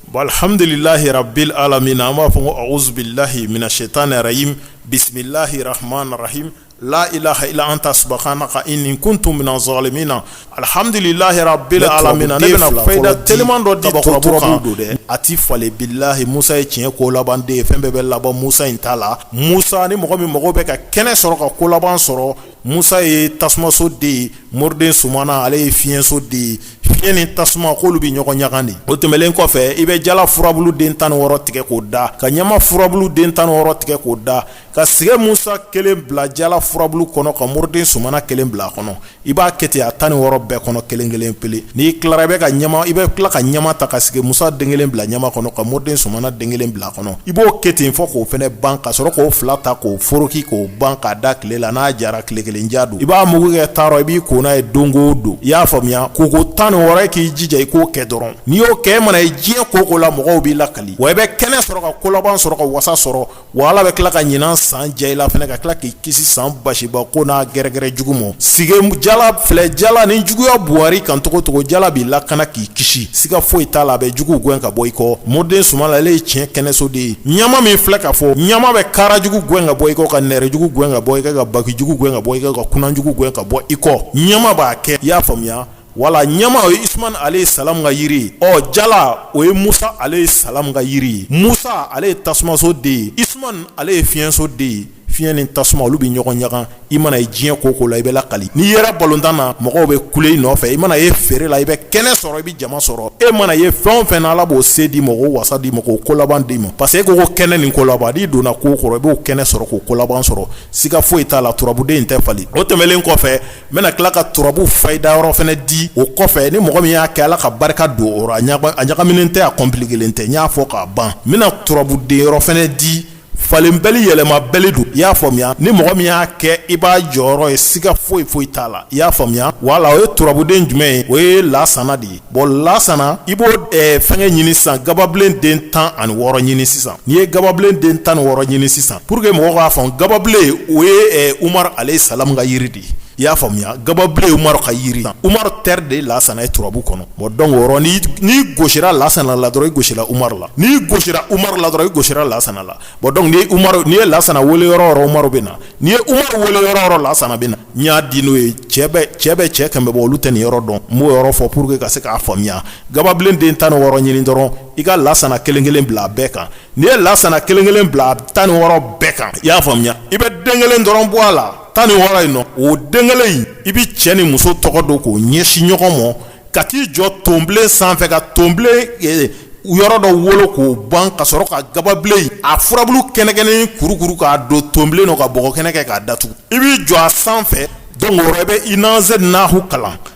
Bon alihamdulilahi rabili alamina an b'a fɔ ko awuzubilahi mina setani rajimi bisimilahi rahmani rahimi layilaha ila anta subuhanaka ini kuntu mina zalimina alihamdulilayi rabili alamina ne bɛna fayida teeliman dɔ daba kɔrɔ dɔrɔn don dɛ a tɛ falen bilahi musa ye tiɲɛ ko laban de ye fɛn bɛɛ bɛ laban musa in ta la musa ni mɔgɔ min mɔgɔ bɛ ka kɛnɛ sɔrɔ ka ko laban sɔrɔ Musa ye tasumaso de ye moriden sumana ale ye fiɲɛso de ye fiɲɛ ni tasuma k'olu bɛ ɲɔgɔn ɲaga dɛ o tɛmɛlen kɔfɛ i bɛ jala furabulu den tan ni wɔɔrɔ tigɛ k'o da ka ɲama furabulu den tan ni wɔɔrɔ tigɛ k'o da ka sigi musa kelen bila jala furabulu kɔnɔ ka moriden sumana kelen bila a kɔnɔ i b'a kɛ ten a tan ni wɔɔrɔ bɛɛ kɔnɔ kelen kelen pe n'i tila bɛ ka i bɛ tila ka ɲama ta ka sigi musa den kelen bila ɲama kɔnɔ ka moriden sumana den kelen bila a kɔnɔ kɔnɔ i b'o kɛ ten fɔ k'o fana ban ka sɔrɔ k'o fila ta k'o foroki k'o ban k'a da tile la n'a jara tile kelen ja don i b'a mugu kɛ daa rɔ i b'i ko n'a ye don o don i y'a faamuya ko ko tan ni wɔɔrɔ k'i jija i k'o kɛ dɔrɔn n'i y'o kɛ i mana ye diɲɛ ko o ko la mɔgɔw b'i lakali wa i bɛ kɛnɛ sɔrɔ ka ko laban sɔrɔ ka wasa sɔrɔ wa ala bɛ tila ka ɲinan san diya i la fana ka tila k'i kisi san basiba ko n'a gɛrɛgɛrɛ jugu ma parce que jala filɛ jala ni juguya bar'i kan cogo cogo jala b'i lakana k'i kisi siga foyi t'a la a bɛ juguw gɛn ka bɔ i kɔ moriden sumana ale ye tiɲɛ kɛnɛso de ye ɲama min filɛ ka fɔ ɲama bɛ kara jugu gɛn ka bɔ i kɔ ka nɛrɛ jugu gɛn ka bɔ i kɔ ka baki jugu gɛn ka bɔ i kɔ ka kunna jugu gɛn ka bɔ i kɔ ɲama b'a kɛ i y'a faamuya wala ɲama o ye isuman aleyi salamu ka yiri ye ɔ jala o ye musa aleyi salamu ka yiri ye musa ale ye tasumaso de ye isuman ale ye fiɲɛso de ye fiɲɛ ni tasuma olu bɛ ɲɔgɔn ɲaga i mana ye diɲɛ ko ko la i bɛ lakali n'i yera balontan na mɔgɔw bɛ kule i nɔfɛ i mana ye feere la i bɛ kɛnɛ sɔrɔ i bɛ jama sɔrɔ e mana ye fɛn fɛn ala b'o se d'i ma k'o wasa d'i ma k'o ko laban d'i ma parce que e ko ko kɛnɛ ni ko laban n'i donna ko ko rɔ i b'o kɛnɛ sɔrɔ k'o ko laban sɔrɔ siga foyi t'a la turabuden in tɛ falen o tɛmɛlen kɔfɛ n bɛna tila ka turabu fayida yɔrɔ fana di o kɔfɛ ni mɔgɔ min y'a kɛ ala ka barika don a rɔ a ɲagaminen tɛ a compliquélen tɛ n y'a fɔ k'a ban n bɛna turabuden yɔrɔ fana di falenbali yɛlɛmabali don i y'a faamuya ni mɔgɔ min y'a kɛ i b'a jɔyɔrɔ ye siga foyi foyi t'a la i y'a faamuya wala o ye turabuden jumɛn ye o ye lasana de ye bɔn lasana i b'o eh, fɛnkɛ ɲini sisan gababilen den tan ani wɔɔrɔ ɲini sisan n'i ye gababilen den tan ni wɔɔrɔ ɲini sisan pour que mɔgɔ k'a faamu gababilen o ye eh, umar aleyi salamu ka yiri de i y'a faamuya gababilen umaru ka jiri la umaru teri de lasana ye turabu kɔnɔ o dɔn n'i gosi lasana la dɔrɔn i gosi umaru la n'i gosi umaru la dɔrɔn i gosi lasana la n'i ye lasana weele dɔrɔn umaru bɛ na n'i ye umaru weele dɔrɔn lasana bɛ na n y'a di n'o ye cɛ bɛ cɛ kɛmɛ bɛ bɔ olu tɛ nin yɔrɔ dɔn n b'o yɔrɔ fɔ pour que ka se k'a faamuya gababilen den tan ni wɔɔrɔ ɲini dɔrɔn i ka lasana kelen kelen bila a bɛɛ kan n'i ye lasana kelen kelen bila tan ni wɔɔrɔ bɛɛ kan i y'a faamuya i bɛ den kelen dɔrɔn bɔ a la tan ni wɔɔrɔ in nɔ o den kelen in i bɛ cɛ ni muso tɔgɔ don k'o ɲɛsin ɲɔgɔn ma ka t'i jɔ tonbilen sanfɛ ka tonbilen eh, yɔrɔ dɔ wolo k'o ban ka sɔrɔ ka gababilen a furabulu kɛnɛkɛnɛ kurukuru k'a don tonbilen nɔ ka bɔgɔ kɛnɛ kɛ k'a datugu i b'i jɔ a sanfɛ don o rɔ i bɛ inna anzalnahu kalan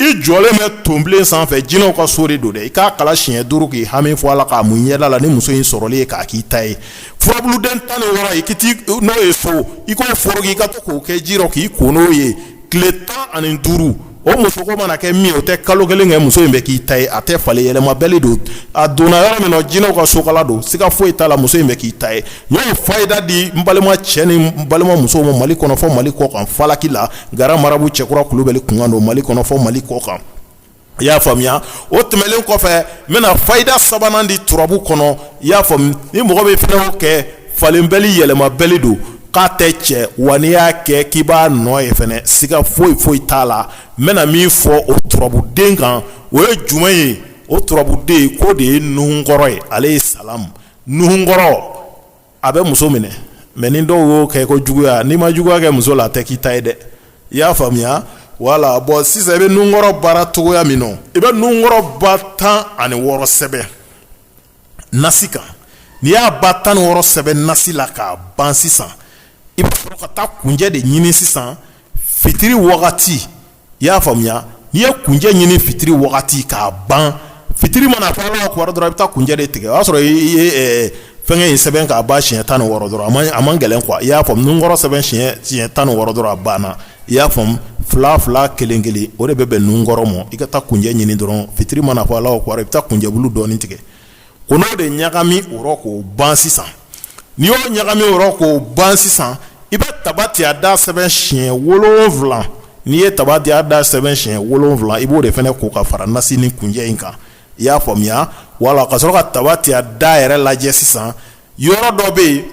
i jɔlen bɛ tonbilen sanfɛ jinɛw ka so de don dɛ i k'a kalan siɲɛ duuru k'i hami fɔ a la k'a mun i ɲɛda la ni muso in sɔrɔlen ye k'a k'i ta ye furabuluden tan ni wɔɔrɔ i k'i n'o ye so i k'o foro k'i ka to k'o kɛ ji rɔ k'i ko n'o ye tile tan ani duuru o muso ko mana kɛ min o tɛ kalo kelen kɛ muso in bɛ k'i ta ye a tɛ falen yɛlɛmabali don a donna yɔrɔ min na jinɛw ka sokala don siga foyi t'a la muso in bɛ k'i ta ye n ye fayida di n balima cɛ ni balima muso ma mali kɔnɔ fɔ mali kɔ kan falaki la Gran marabu cɛkura kulubali kumakan don mali kɔnɔ fɔ mali kɔ kan i y'a faamuya o tɛmɛlen kɔfɛ n bɛna fayida sabanan di turabu kɔnɔ i y'a faamuya ni mɔgɔ bɛ fɛn kɛ falenbali yɛlɛmabali don k'a tɛ cɛn wa n'i y'a kɛ k'i b'a nɔ ye fana siga foyi foyi t'a la n bɛna min fɔ o turabuden kan o ye juma ye o turabuden k'o de ye nuhunkɔrɔ ye alayi salamu nuhunkɔrɔ a bɛ muso minɛ mɛ ni dɔw y'o kɛ ko juguya n'i ma juguya kɛ muso la a tɛ k'i ta ye dɛ i y'a faamuya wala bɔn sisan i bɛ nunkɔrɔ baara cogoya min na i bɛ nunkɔrɔ ba tan ani wɔɔrɔ sɛbɛn nasi kan n'i y'a ba tan ni wɔɔrɔ sɛbɛn nasi la k'a ban sisan i bɛ sɔrɔ ka taa kunjɛ de ɲini sisan fitiri wagati i y'a faamuya n'i ye kunjɛ ɲini fitiri wagati k'a ban fitiri mana fɔ alahu akibaru dɔrɔn i bɛ taa kunjɛ de tigɛ o y'a sɔrɔ i ye eh, fɛnkɛ in sɛbɛn k'a ban siɲɛ tan ni wɔɔrɔ dɔrɔn a man a man gɛlɛn quoi i y'a faamu nunkɔrɔ sɛbɛn siɲɛ siɲɛ tan ni wɔɔrɔ dɔrɔn a banna i y'a faamu fila fila kelen kelen o de bɛ bɛn nunkɔrɔ mɔ i ka taa kunjɛ ɲini dɔrɔn fitiri mana fɔ alahu akibaru i bɛ taa kunjɛbulu dɔɔni tigɛ o n'o de ɲagami o rɔ k'o ban sisan n'i y'o ɲagami o rɔ k'o ban sisan i bɛ tabatiyada sɛbɛn siɲɛ wolonwula n'i ye tabatiyada sɛbɛn siɲɛ wolonwula i b'o de fana ko ka fara nasi ni kunjɛ in kan i y'a faamuya wala ka sɔrɔ ka tabatiyada yɛrɛ lajɛ sisan yɔrɔ dɔ bɛ yen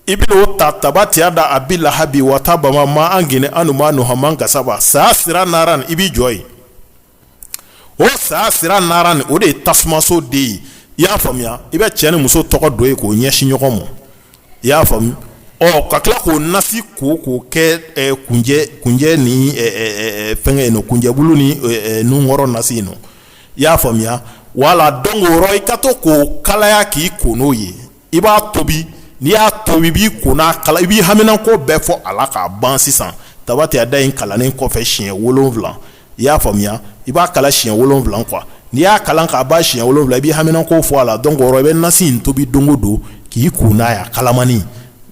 i bɛ o ta tabatiyada abi lahabi wataba ma an geni an manuhu ama kasaba sayasira naran i b'i jɔ yen o sayasira naran in o de ye tasumaso de ye i y'a faamuya i bɛ cɛ ni muso tɔgɔ don yen k'o ɲɛsin ɲɔgɔn ma i y'a faamuya ɔ ka tila k'o nasi ko k'o kɛ kunjɛ kunjɛ ni fɛnkɛ in nɔ kunjɛbulu ni nunkɔrɔ nasi in nɔ i y'a faamuya wala dɔn o rɔ i ka to k'o kalaya k'i ko n'o ye i b'a tobi n'i y'a tobi i b'i ko n'a kala i b'i haminanko bɛɛ fɔ a la k'a ban sisan tabati yada in kalannen kɔfɛ siɲɛ wolonwula i y'a faamuya i b'a kalan siɲɛ wolonwula kuwa n'i y'a kalan k'a ban siɲɛ wolonwula i b'i haminanko fɔ a la donc i bɛ nasi in tobi don o don k'i ko n'a ye kalamani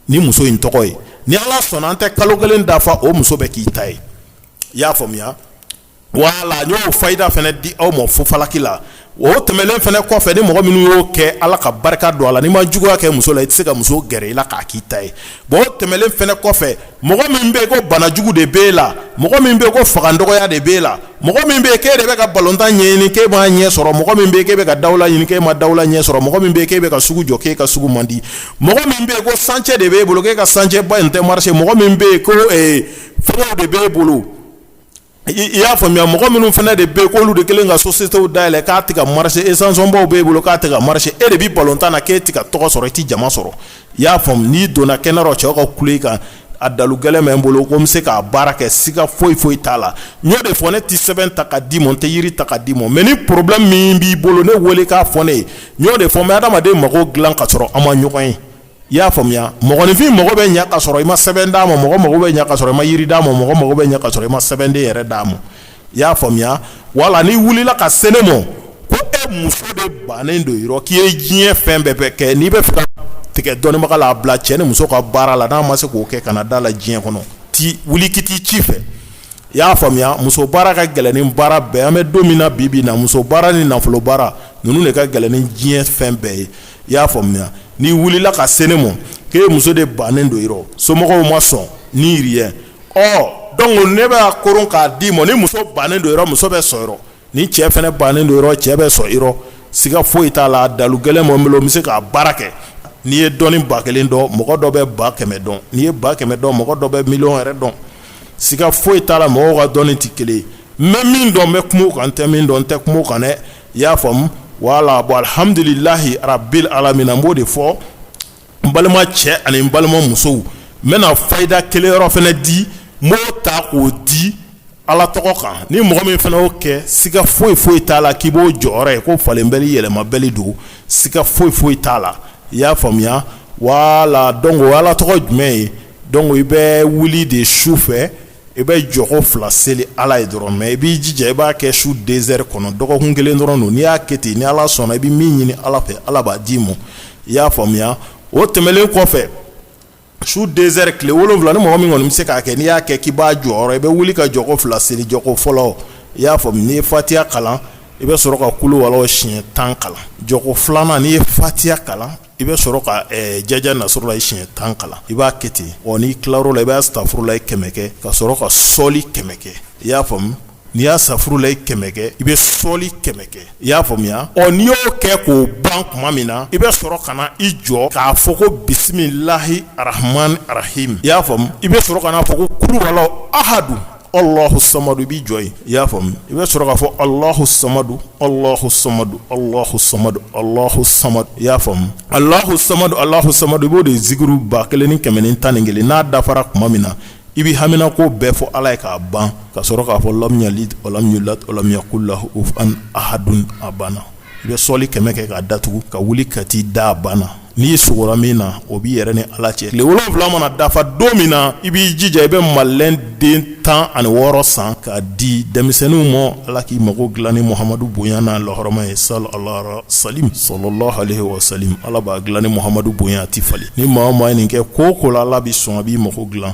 ni muso in tɔgɔ ye ni ala sɔnna a tɛ kalo kelen dafa o muso bɛ k'i ta ye i y'a faamuya Wala y'o faida fana di aw ma fofalaki la o tɛmɛnen fana kɔfɛ ni mɔgɔ minnu y'o kɛ ala ka barika don a la n'i ma juguya kɛ muso la i tɛ se ka muso gɛrɛ i la k'a k'i ta ye bon tɛmɛnen fana kɔfɛ mɔgɔ min bɛ ko banajugu de bɛ e la mɔgɔ min bɛ ko fanga dɔgɔya de bɛ e la mɔgɔ min bɛ k'e de bɛ ka balontan ɲɛɲini k'e ma ɲɛ sɔrɔ mɔgɔ min bɛ k'e bɛ ka dala ɲini k'e ma dala ɲɛ sɔrɔ mɔgɔ min bɛ k'e bɛ ka sugu jɔ k'e ka sugu man di mɔgɔ min bɛ ko sancɛ de bɛ e bolo k'e ka sancɛ ba in tɛ marisi mɔgɔ min bɛ yen ko f de bɛ e bolo i y'a faamuya mɔgɔ minnu fana de bɛ k'olu de kelen ka sosiyetew dayɛlɛn k'a tɛ kɛ ka marisi esansɔnbaw b'e bolo k'a tɛ kɛ ka marisi e de bɛ balontan na k'e tɛ kɛ ka tɔgɔ sɔrɔ i tɛ jama sɔrɔ i y'a faamu n'i donna kɛnɛ dɔ cɛw ka kule kan a dalu gɛlɛn bɛ n bolo ko n bɛ se k'a baara kɛ siga foyi foyi t'a la n y'o de fɔ ne tɛ sɛbɛn ta ka d'i ma n tɛ yiri ta ka d'i ma mɛ ni porobilɛmu min b'i bolo ne wele k'a fɔ ne ye n y'o de fɔ n bɛ adamaden mago dilan ka sɔrɔ an ma ɲɔgɔn ye i y'a faamuya mɔgɔninfin mago bɛ ɲɛ ka sɔrɔ i ma sɛbɛn d'a ma mɔgɔ mago bɛ ɲɛ ka sɔrɔ i ma yiri d'a ma mɔgɔ mago bɛ ɲɛ ka sɔrɔ i ma sɛbɛnden yɛrɛ d'a ma i y'a faamuya wala n'i wulila ka se ne ma ko e muso de bannen don yɔrɔ k'i ye diɲɛ fɛn bɛɛ bɛ kɛ n'i b'a fɛ tigɛ dɔnnibaga la a bila cɛ ni muso ka baara la n'a ma se k'o kɛ kana d'a la diɲɛ kɔnɔ ti wuli ki t'i ci fɛ i y'a faamuya muso baara ka gɛlɛn ni baara bɛɛ an bɛ don min na bi bi in na muso baara ni nafolo baara ninnu de ka gɛlɛn ni diɲɛ fɛn bɛɛ ye i y'a faamuya n'i wulila ka se ne ma ko e muso de bannen don yɔrɔ somɔgɔw ma sɔn ni yiriyɛ ɔ donc ne b'a koron k'a d'i ma ni muso bannen don yɔrɔ muso bɛ sɔn yɔrɔ ni cɛ fana bannen don yɔrɔ cɛ bɛ sɔn yɔrɔ siga foyi t'a la dalu gɛlɛn bɛ n bolo n bɛ se k'a baara kɛ n'i ye dɔnni ba kelen dɔn mɔgɔ dɔ bɛ ba kɛmɛ dɔn n'i ye ba kɛmɛ dɔn mɔgɔ dɔ bɛ miliyɔn yɛrɛ dɔn siga foyi t'a la mɔgɔw ka dɔnni tɛ kelen ye n bɛ min dɔn n bɛ kuma o kan n tɛ min dɔn n tɛ kuma o kan dɛ i y'a faamu wala bon alihamduli lahi rabil alamina an b'o de fɔ n balimacɛw ani n balimamusow n bɛna faida kelen yɔrɔ fana di mɔgɔw ta k'o di ala tɔgɔ kan ni mɔgɔ min fana y'o kɛ siga foyi foyi t'a la k'i b'o jɔyɔrɔ ye ko falenbali yɛlɛmabali don siga foyi foyi t'a la i y'a faamuya wala donc ala tɔgɔ jumɛn ye donc i bɛ wuli de su fɛ i bɛ jɔko fila seli ala ye dɔrɔn mɛ i b'i jija i b'a kɛ su densɛri kɔnɔ dɔgɔkun kelen dɔrɔn don n'i y'a kɛ ten ni ala sɔnna i bɛ min ɲini ala fɛ ala b'a d'i ma i y'a faamuya o tɛmɛnen kɔfɛ su densɛri tile wolo wolonwula ni mɔgɔ min kɔni bɛ se k'a kɛ n'i y'a kɛ k'i b'a jɔyɔrɔ ye i bɛ wuli ka jɔko fila seli jɔko fɔlɔ i y'a fɔ n'i ye fatiya kalan i bɛ sɔrɔ ka kuluwalahu siɲɛ tan kalan jɔko filanan n'i ye fatiya kalan i bɛ sɔrɔ ka jaja nasurulahi siɲɛ tan kalan i b'a kɛ ten ɔ n'i tilara o la i b'asafurulahi kɛmɛ kɛ ka sɔrɔ ka sɔli kɛmɛ kɛ i y'a faamu n'i y'asafurulahi kɛmɛ kɛ i bɛ sɔli kɛmɛ kɛ i y'a faamuya ɔ n'i y'o kɛ k'o ban tuma min na i bɛ sɔrɔ ka na i jɔ k'a fɔ ko bisimilahi arahamani arahimi i y'a faamu i bɛ sɔrɔ k'a fɔ ko kuluhuwalahu ahadu alahu samadu i b'i jɔ i y'a faamuya i bɛ sɔrɔ k'a fɔ alahu samadu alahu samadu alahu samadu alahu samadu i y'a faamu alahu samadu alahu samadu i b'o de zikuru ba kelen ni kɛmɛ ni tan ni kelen n'a dafara tuma min na i bɛ hamina ko bɛɛ fɔ ala ye k'a ban ka sɔrɔ k'a fɔ lamu yalidi walamu yuladi walamu yakun lahu kufuwan ahadun a banna i bɛ sɔli kɛmɛ kɛ k'a datugu ka wuli ka t'i da banna n'i sugora min na o b'i yɛrɛ ni ala cɛ tile wolonwula mana dafa don min na i b'i jija i bɛ madilɛn den tan ani wɔɔrɔ san k'a di denmisɛnninw ma ala k'i mago dilan ni muhamadu bonya n'a lahɔrɔma ye sa alara sa salalahu alayi wa salamu ala b'a dilan ni muhamadu bonya a tɛ falen ni maa min ye nin kɛ ko o ko la ala bɛ sɔn a b'i mago dilan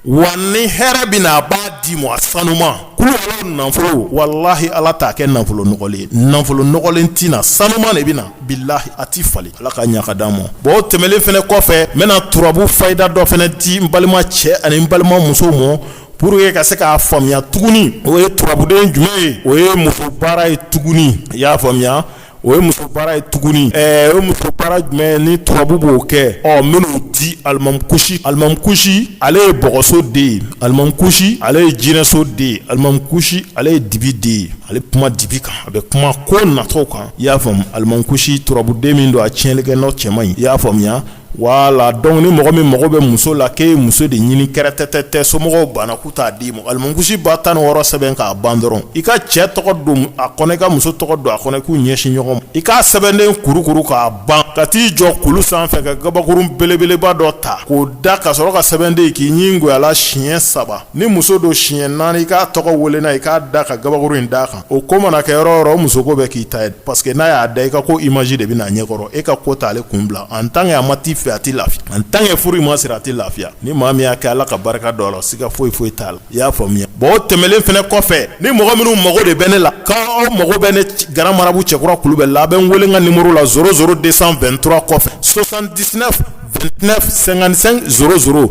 wa ni hɛrɛ bɛ na a b'a d'i ma sanuman kulubali nafolo walahi ala t'a kɛ nafolo nɔgɔlen nafolo nɔgɔlen tɛ na sanuman de bɛ na bilahi a tɛ falen ala k'a ɲa k'a d'an ma bon tɛmɛlen fana kɔfɛ n bɛna turabu fayida dɔ fana di n balima cɛ ani n balima muso ma pour que ka se k'a faamuya tuguni o ye turabuden jumɛn ye o ye muso baara ye tuguni i y'a faamuya O ye muso baara ye tuguni ɛɛ o ye muso baara jumɛn ni turabu b'o kɛ ɔ minnu di alimakusi alimakusi ale ye bɔgɔso de ye alimakusi ale ye jinɛso de ye alimakusi ale ye dibi de ye ale kuma dibi kan a bɛ kuma ko natɔw kan i y'a faamu alimakusi turabuden min don a tiɲɛnlikɛ n'a cɛ man ɲi i y'a faamuya Wala donc ni mɔgɔ min mago bɛ muso la k'e ye muso de ɲini kɛrɛtɛtɛtɛ somɔgɔw banna k'u t'a d'i ma alimakusi ba tan ni wɔɔrɔ sɛbɛn k'a ban dɔrɔn i ka cɛ tɔgɔ don a kɔnɔ i ka muso tɔgɔ don a kɔnɔ k'u ɲɛsin ɲɔgɔn ma i k'a sɛbɛnden kurukuru k'a ban ka t'i jɔ kulu sanfɛ ka kabakurun belebeleba dɔ ta k'o da ka sɔrɔ ka sɛbɛnden k'i ɲin gwan a la siɲɛ saba ni muso don siɲɛ naani i k'a tɔgɔ weele na i k'a da ka kabakuru in d'a kan o ko mana kɛ yɔrɔ o yɔrɔ muso ko bɛ k'i ta ye parce que n'a y'a da i ka ko image de bɛ na a ɲɛ kɔrɔ e ka ko t'ale kun bila en tant que a ma t'i fɛ a tɛ lafiya en tant que furu in ma siri a tɛ lafiya ni maa min y'a kɛ ala ka barika don a la siga foyi foyi t'a la i y'a faamuya bon o tɛmɛlen fana kɔfɛ ni mɔgɔ minnu mago de bɛ ne la k' aw mago bɛ ne grand marabout cɛkura kulubali a bɛ n weele n ka nimɔrɔ la zéro zéro deux cent vingt-trois kɔfɛ soixante-dix-neuf vingt-neuf cinquante-cinq zéro zéro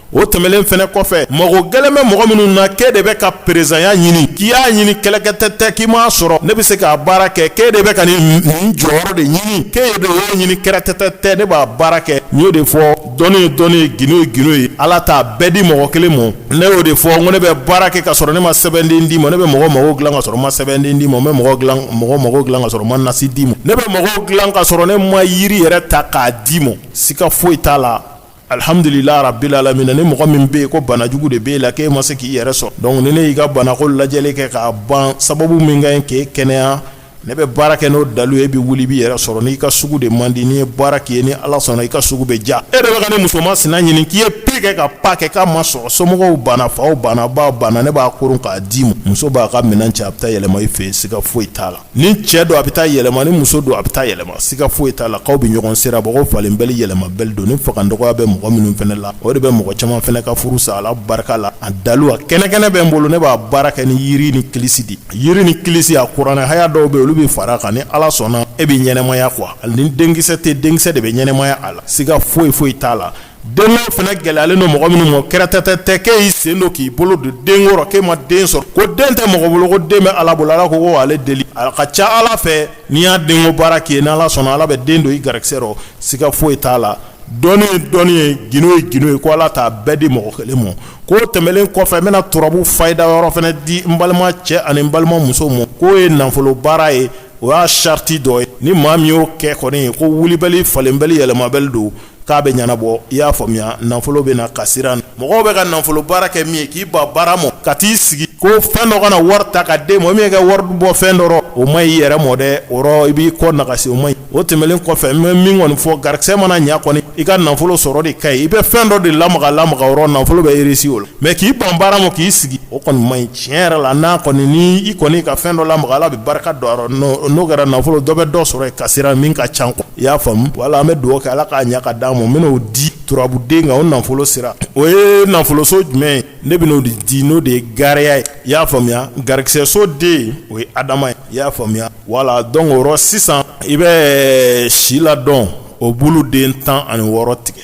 o tɛmɛnlen fana kɔfɛ mago gɛlɛn bɛ mɔgɔ minnu na k'e de bɛ ka perezanya ɲini k'i y'a ɲini kɛlɛkɛtɛ tɛ k'i m'a sɔrɔ ne bɛ se k'a baara kɛ k'e de bɛ ka nin jɔyɔrɔ de ɲini k'e de y'o ɲini kɛlɛkɛtɛ tɛ ne b'a baara kɛ n y'o de fɔ dɔnni ye dɔnni ye gindo ye gindo ye ala t'a bɛɛ di mɔgɔ kelen ma ne y'o de fɔ n ko ne bɛ baara kɛ ka sɔrɔ ne ma sɛbɛnden d'i ma ne bɛ mɔgɔ mago dilan ka sɔrɔ ma sɛbɛnden d'i ma n bɛ mɔgɔ dilan mɔgɔ mago dilan ka sɔrɔ ma nasi d'i ma ne bɛ mɔgɔ dilan ka sɔrɔ ne ma yiri yɛrɛ ta k'a d'i ma siga foyi t'a la Alihamdulilahi rabili alamina ni mɔgɔ min bɛ yen ko banajugu de b'e la k'e ma se k'i yɛrɛ sɔrɔ donc ne ne y'i ka banako lajɛli kɛ k'a ban sababu min ka ɲi k'e kɛnɛya ne bɛ baara kɛ n'o dalu ye e bɛ wuli b'i yɛrɛ sɔrɔ n'i ka sugu de man di ne ye baara k'i ye ni ala sɔnna i ka sugu bɛ diya e de bɛ ka nin muso masina ɲini k'i ye pi kɛ ka pa kɛ k'a ma sɔrɔ somɔgɔw banna faw banna baw banna ne b'a kuru k'a d'i ma muso b'a ka minɛn cɛ a bɛ taa yɛlɛma i fɛ yen siga foyi t'a la ni cɛ don a bɛ taa yɛlɛma ni muso don a bɛ taa yɛlɛma siga foyi t'a la k'aw bɛ ɲɔgɔn sara bɔ ko falenbali yɛlɛmabali don ni fangadɔgɔya bɛ mɔgɔ minnu fana la o de bɛ mɔgɔ caman fana ka furu sa ala barika la a dalu a kɛnɛkɛnɛ bɛ n bolo ne b'a baara kɛ ni yiri ni kilisi de yiri ni kilisi a kuranɛ haya dɔw bɛ olu bɛ fara kan ni ala sɔnna e bɛ ɲɛnamaya quoi ani ni denkisɛ tɛ denkisɛ de bɛ ɲɛnamaya a la siga foyi foyi t'a la Den fana gɛlɛyalen don mɔgɔ minnu ma kɛlɛkɛtɛ tɛ k'e y'i sen don k'i bolo don den k'e ma den sɔrɔ ko den tɛ mɔgɔ bolo ko den bɛ ala bolo ala ko ale deli a ka ca ala fɛ ne y'a den baara k'i ye ni ala sɔnna ala bɛ den don i garisɛ rɔ siga foyi t'a la dɔnni ye dɔnni ye gindo ye gindo ye ko ala t'a bɛɛ di mɔgɔ kelen ma o tɛmɛnen kɔfɛ n bɛna turabu fayida yɔrɔ fana di n balima cɛ ani balima muso ma k'o ye nafolo baara ye o y'a sariti dɔ ye ni maa min y'o kɛ kɔni ye ko wulibali falenbali yɛlɛmabali don k'a bɛɛ ɲɛnabɔ i y'a faamuya nafolo bɛ na ka siran mɔgɔw bɛ ka nafolo baara kɛ min ye k'i ban baara mɔ ka t'i sigi ko fɛn dɔ ka na wari ta k'a d'e mɔ min kɛ wari bɔ fɛn dɔ rɔ o man ɲi i yɛrɛ mɔ dɛ o rɔ i b'i kɔ nagasi o ma ɲi o tɛmɛnen kɔfɛ n bɛ min kɔni fɔ garisɛ mana ɲɛ kɔni i ka nafolo sɔrɔ de ka ɲi i bɛ fɛn dɔ de lamaga lamaga o rɔ nafolo bɛ irisi o la mɛ k'i ban baara ma k'i sigi o kɔni ma ɲi tiɲɛ yɛrɛ la n'a kɔni ni i kɔni ka fɛn dɔ lamaga ala bɛ barika don a rɔ n'o kɛra nafolo dɔ bɛ dɔ sɔrɔ ka siran min ka ca kɔnɔ I y'a faamu wala an bɛ dugawu kɛ ala k'a ɲɛ ka d'an ma n bɛn'o di turabuden kan o nafolo sira o ye nafoloso jumɛn ye ne bɛn'o de di n'o de ye gariya ye i y'a faamuya garisɛso den o ye adama ye i y'a faamuya wala donc o rɔ sisan i bɛ si ladɔn o bulu den tan ani wɔɔrɔ tigɛ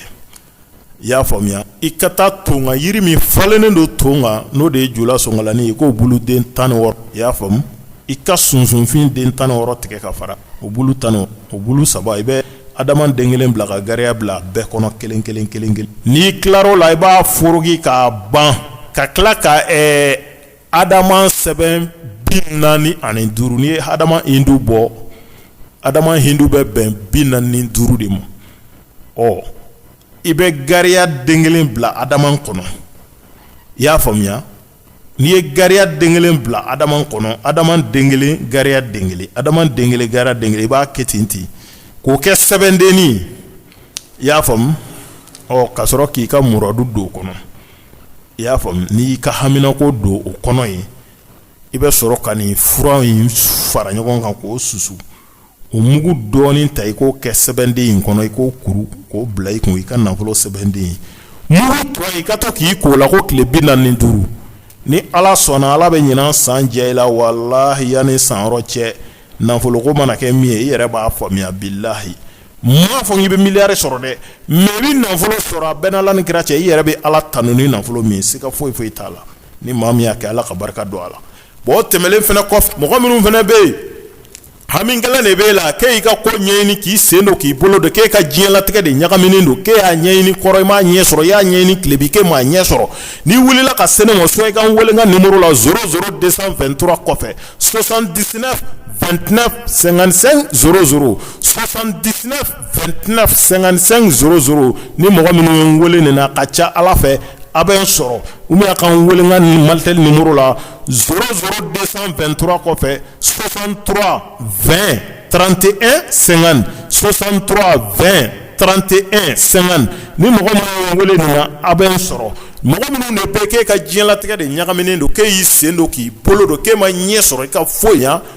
i y'a faamuya i ka taa ton kan jiri min falennen don ton kan n'o de ye julasɔnkalanin ye k'o bulu den tan wɔɔrɔ i y'a faamu i ka sunsunfin den tan wɔɔrɔ tigɛ ka fara o bulu tan o bulu saba i bɛ adama den kelen bila ka gariya bila bɛɛ kɔnɔ kelen kelen kelen kelen n'i tilar'o la i b'a foroki k'a ban ka tila ka ɛɛ adama sɛbɛn bi naani ani duuru n'i ye adama hindu bɔ adama hindu bɛ bɛn bi naani duuru de ma ɔ i bɛ gariya den kelen bila adama kɔnɔ i y'a faamuya n'i ye gariya den kelen bila adama kɔnɔ adama den kelen gariya den kelen adama den kelen gariya den kelen i b'a kɛ ten ten k'o kɛ sɛbɛndennin i y'a faamu ɔ ka sɔrɔ k'i ka muradu don o kɔnɔ i y'a faamu n'i y'i ka haminako don o kɔnɔ ye i bɛ sɔrɔ ka nin fura in fara ɲɔgɔn kan k'o susu o mugu dɔɔnin ta i k'o kɛ sɛbɛnden in kɔnɔ i k'o kuru k'o bila i kun i ka nafolo sɛbɛnden ye mugu tɔ i ka to k'i k'o la ko tile bi naani ni duuru ni ala sɔnna ala bɛ ɲinan san jɛ i la walahi yanni san yɔrɔ cɛ nafoloko mana kɛ min ye i yɛrɛ b'a faamuya bilahi n m'a fɔ k'i bɛ miliyari sɔrɔ dɛ mɛ i bɛ nafolo sɔrɔ a bɛnna ala ni kira cɛ i yɛrɛ bɛ ala tanu ni nafolo min ye siga foyi foyi t'a la ni maa min y'a kɛ ala ka barika don a la Bon tɛmɛlen fana kɔfɛ mɔgɔ minnu fana bɛ yen hami gɛlɛn de b'e la k'i ka ko ɲɛɲini k'i sen don k'i bolo don k'e ka diɲɛlatigɛ de ɲagaminen don k'e y'a ɲɛɲini kɔrɔn i m'a ɲɛ sɔrɔ i y'a ɲɛɲini tilebin k'e m'a ɲɛ sɔrɔ n'i wulila ka se ne ma so i ka n weele n ka nimero la zéro zéro deux cent vingt-trois kɔfɛ soixante-dix-neuf vingt-neuf cinquante-cinq zéro zéro soixante-dix-neuf tɛna sensen ni mɔgɔ minnu weele nin ka ca ala fɛ a bɛ sɔrɔ u bɛ ka weelekan ni mali tɛ ni muru la s de2 tora kɔfɛ sonsan tura fɛn trante e sensen sonsan tura fɛn trante e sen ni mɔgɔ minnu weele nin a bɛ sɔrɔ mɔgɔ minnu de bɛ kɛ ka diɲɛɲɛnatigɛ de ɲagaminen don k' y'i sen don k'i bolo don k' ma ɲɛ sɔrɔ i ka foyi yan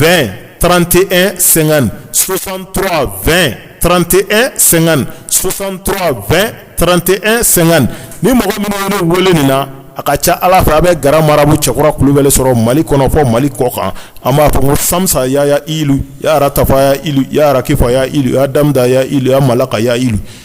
2 trantie senkan sosanturawa fɛn trante e senkan sosanturawa fɛn trante e senkan ni mɔgɔ minnu wele min na a ka ca ala fɛ a bɛ g marabu cɛkura kulubali sɔrɔ mali kɔnɔ fɔ mali kɔ kan an b'a fɔ ko sasa y'a ya i ya tafa y'a ya kɛ fɔ y'a ya ya mala ka y'a